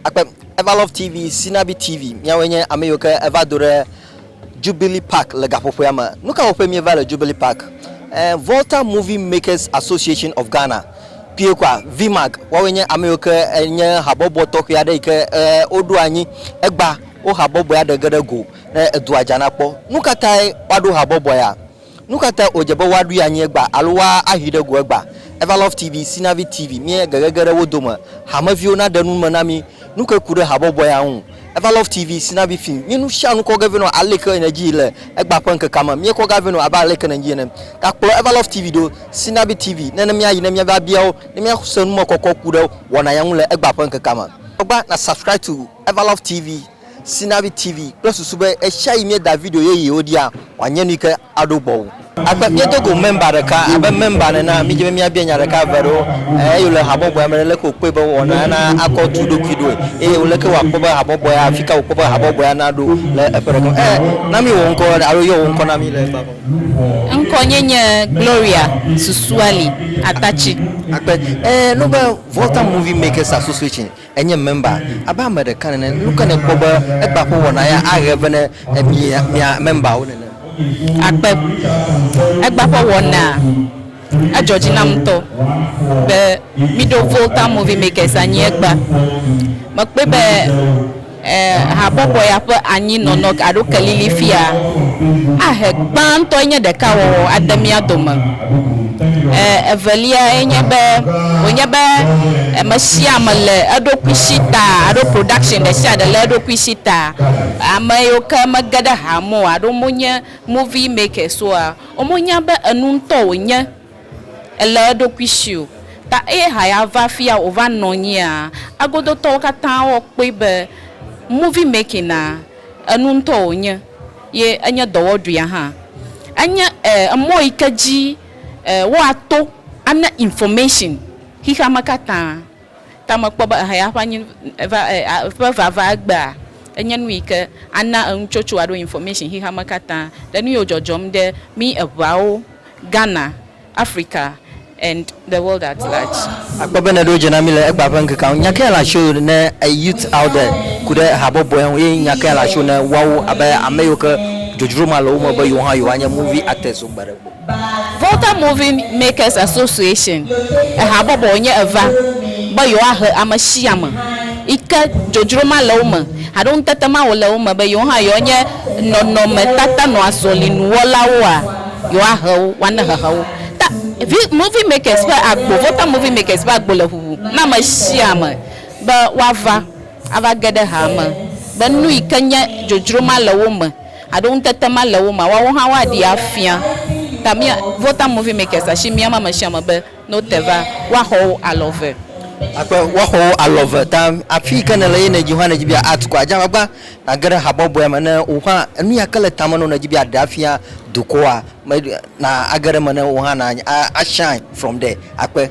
Akpe Eva Love TV, Sinabi TV, míawoe nye ame yiwo ke eva do ɖe Jubilee Park le gaƒoƒoea me. Nu ka wɔƒe míeva le Jubilee Park? Eh, Volta Movie Makers Association of Ghana, kpuie kɔa, VMAG, woawoe nye ame yiwo ke nye habɔbɔ tɔxɛ aɖe yi ke eh, woɖo anyi egba wo habɔbɔea ɖe ge ɖe go ne edua dza na kpɔ. Nu ka tae woaɖo habɔbɔ ya? Nu ka ta wòdze be woaɖoe anyi egbea alo woahi ɖe go egbea? Evalove TV, Sinavi TV, Míe gege ge ɖe wo dome hameviwo naɖe nu me na mí. Nu kae ku ɖe habɔbɔ ya ŋu? Evalove TV, Sinavi Film, Mí nusianu kɔ ge vɛ nɔ aleke nèdii le egbea ƒe ŋkekea me. Míekɔ gea vɛ nɔ abe aleke nèdii ene. Gakplɔ Evalove TV ɖo, Sinavi TV, ne ne míayi ne míava bia wo ne míase numekɔkɔ ku ɖe wɔna ya ŋu le egbea ƒe ŋkekea me. Kpɔ gbɔ na Subscribe to Evalove TV Sinavi TV kple susu be ɣesiaɣi míeda video yeyewo ɖia, wòanye nui ke aɖo gbɔwò. Akpe míedo go mɛmba ɖeka abe mɛmba nena. Mídi be míabia nya ɖeka eve aɖewo eye wòle habɔbɔea me ɖe, leke wòkpɔe be wɔna ana akɔ tu ɖokui ɖoe eye leke wòakpɔ be habɔbɔea, afika wòkpɔ be habɔbɔea naɖo le eƒe ɖe gɔme. Ẽ, na mí wò ŋkɔ alo yɔ wò ŋkɔ na mí le gbagba me. Ŋkɔ nye nye Gloria Susuali Atatsi. Akpe. Ẽ, nu be Volta Movie Makers Association Enye mɛmba abe ame ɖeka nene. Nu kae nèkpɔ be egbea ƒe wɔna ya ahe vɛ ne mi mia mɛmbawo nene? Agbe. Egbea ƒe wɔnaa, edzɔ dzi nam ŋutɔ be míɖo Volta Movie Makers anyi egbea. Mekpɔe be. E habɔbɔ ya ƒe anyi nɔnɔ alo kelili fia ahe gbãtɔe nye ɖeka wɔwɔ ade mía dome. E eveliae nye be wònye be ame sia ame le eɖokui si ta alo production ɖe sia ɖe le eɖokui si ta. Ame yiwo ke mege ɖe ha me o alo wonye movie makers oa, womo nya be enu ŋutɔ wònye. Èlé eɖokui si o. Ta eye haya va afia wòva nɔ anyia, agodotɔwo katã awɔ kpɔe be movie making a, enu ŋutɔ wònye ye enye dɔwɔɖuia hã. Enye e emɔ yi ke dzi e woato ana information xexeame katã. Ta mekpɔ be ehaya ƒe anyi va e a ƒe vava egbea enye nu yi ke ana enutsotso alo information xexeame katã le nu yiwo dzɔdzɔm ɖe mí eŋeawo Ghana, Africa and the world at large. Akpɔ be nèɖo dze na mí le egbea ƒe ŋkekea ŋu. Nya kae le asiwò ne Youth Alde ku ɖe habɔbɔe ŋu eye nya kae le asiwò ne woawo abe ame yiwo ke dzodzro ma le wo me be yewo hã yewoanye movie actors so gbe ɖe gbe? Volta Movie Makers Association, ehabɔbɔ wònye eva be yewoahe ame sia ame yi ke dzodzro ma le wo me alo ŋutete ma wòle wo me be yewo hã yewoanye nɔnɔmetata nɔazɔlinuwɔlawoa? Yewoahe wo woane hehe wo. Ta, vi, Movie Makers ƒe agbo, Vota Movie Makers ƒe agbo le ʋuʋu na ame sia ame be woava, ava ge ɖe haa me, be nu yi ke nye dzodzro ma le wo me, alo ŋutete ma le wo mea, woawo hã woaɖee afia. Ta mía, Vota Movie Makers asi miam ame sia ame be. No te va, woaxɔ wò alɔ ve. Akpe, woaxɔ wò alɔ ve. Ta afi yi ke nèle ye nèdzi hã nèdzi be yeaAct kɔa, dze agbagba nàge ɖe habɔbɔea me. Ne wò hã enu ya ke le tame na wò nèdzi be yeaɖe afia dukɔa me, na age ɖe eme ne wò hã na a shine from there. Akpe.